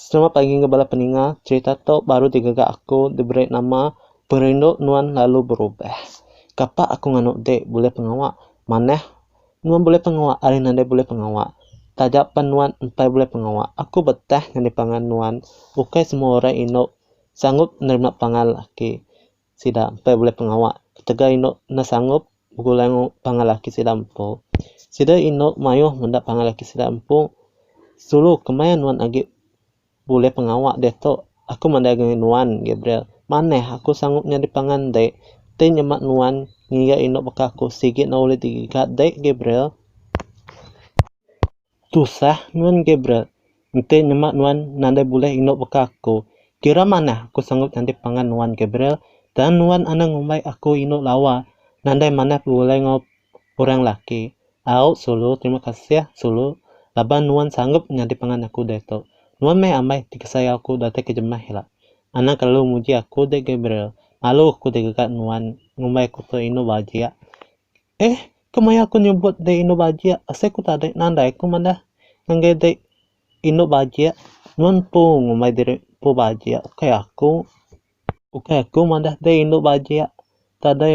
Selamat pagi enggau bala peninga. Cerita tu baru ti gaga aku diberi nama Perindu Nuan Lalu Berubah. Kapa aku nganu dik bulih pengawa manah nuan bulih pengawa ari nadai bulih pengawa. Taja pen nuan empai bulih pengawa aku betah nyadi pangan nuan. Ukai semua orang indu sanggup nerima pangan laki. sida empai bulai pengawa ketegal indu enda sangup begulai enggau pangan laki sida empu. Sida indu mayuh meda pangan laki sida empu sulu kemaya nuan agi bulai pengawa diatu. Aku madai agi nuan Gabriel manah aku sangup nyadi pangan enti ti nyema nuan ngiga indu baka aku sigi enda ulih digiga dei Gabriel. Tusah nuan Gabriel, enti nyema nuan nadai bulih indu baka aku, kira manah aku sanggup nyadi pangan nuan Gabriel, tang nuan anang ngumbai aku indu lawa, nadai manah begulai enggau orang laki. Au Sulu, terima kasih, Sulu, laban nuan sanggup nyadi pangan aku diatu. Nuan meh amai ti kesayau aku datai ke jemah ila. Anang kelalu muji aku dek Gabriel, malu aku dek gaga nuan ngumbai aku tu indu bajik. Eeh kemaya aku nyebut dei indu bajik asai ku tadi nandai ku madah ngagai dei indu bajik nuan empu ngumbai diri empu bajik ukai aku ukai aku madah dei indu bajik tadi.